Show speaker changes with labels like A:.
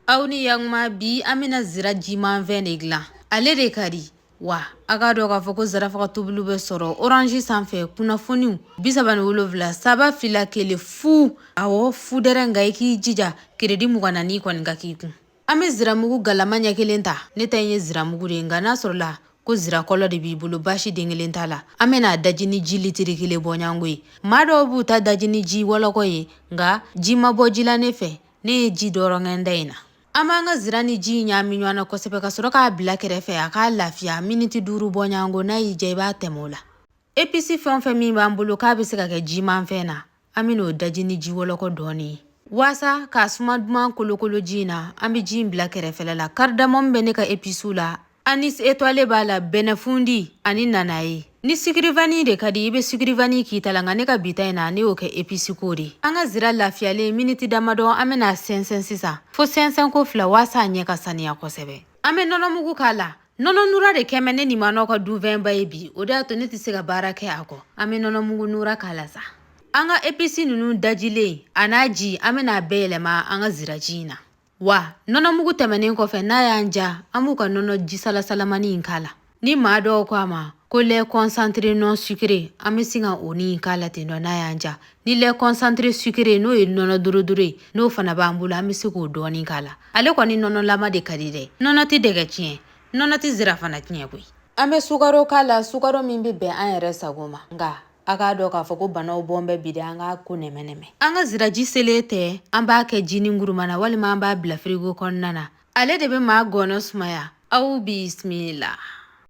A: aw ni yakuma bi an bɛna zira jimanfɛn de gilan ale de ka di wa a k'a dɔn k'a fɔ ko zarafaga tobili bɛ sɔrɔ oranzi sanfɛ kunnafoniw bisaba ni wolonwula saba fila kelen fu awɔ fu dɛrɛ nka i k'i jija keredi mugan ni naani kɔni ka k'i kun an bɛ ziramugu galama ɲɛ kelen ta ne ta in ye ziramugu de ye nka n'a sɔrɔla ko zirakɔlɔ de b'i bolo baasi den kelen t'a la an bɛn'a daji ni ji litiri kelen bɔɲɔgɔnko ye maa dɔw b'u ta daji ni ji wɔlɔkɔ ye nka ji ma bɔ ji la ne fɛ ne ye ji dɔrɔn kɛ n ta in na an b'an ka zira ni ji ɲaami ɲɔgɔn na kosɛbɛ ka sɔrɔ k'a bila kɛrɛfɛ a k'a lafiya miniti duuru bɔɲɔgɔnko n'a y'i ja i b'a tɛmɛ o la episi fɛn o fɛn min b'an bolo k'a bɛ se ka kɛ jimanfɛn na an bɛn'o daji ni ji wɔlɔkɔ dɔɔnin ye waasa k'a suma duman kolokolo ji in na an bɛ ji in bila kɛrɛfɛla la karidamɔmu bɛ ne ka episiw la anisi etwale b'a la bɛnɛfundi ani nanaye ni sikirivani de ka di i be sikirivani k'i ta la nka ne ka bi ta in na ne y'o kɛ episiko de an ka zira lafiyalen miniti damadɔ an ben'a sɛnsɛn sisan fo sɛnsɛnko fila waasa a ɲɛ ka saniya kosɛbɛ an be nɔnɔmugu k'a la nɔnɔ nura de kɛlen bɛ ne ni manɔ ka dunfɛnba ye bi o de y'a to ne tɛ se ka baara kɛ a kɔ an be nɔnɔmugu nura k'a la sa an ka episi nunu dajilen a n'a ji an ben'a bɛɛ yɛlɛma an ka ziraji in na Wa nɔnɔmugu tɛmɛnen kɔfɛ n'a y'an ja an b'u ka nɔnɔ ji salasalamani in k'a la ni maa dɔw ko a ma ko lɛ kɔsantere nɔn sukere an bɛ sin ka o ni k'a la ten dɔ n'a y'an ja ni lɛ kɔsantere sukere n'o ye nɔnɔ dorodoro ye n'o fana b'an bolo an bɛ se k'o dɔɔnin k'a la ale kɔni nɔnɔlama de ka di dɛ nɔnɔ tɛ dɛgɛ tiɲɛ nɔnɔ tɛ zira fana tiɲɛ koyi an bɛ sukaro k'a la sukaro min bɛ bɛn an yɛrɛ sago ma nka a k'a dɔn k'a fɔ ko banaw bɔn bɛ bi de an k'a ko nɛmɛnɛmɛ an ka ziraji selen tɛ an b'a kɛ jinin kuruma na walima an b'a bila firigo kɔnɔna na ale de bɛ maa ngɔnɔ sumaya aw bisimila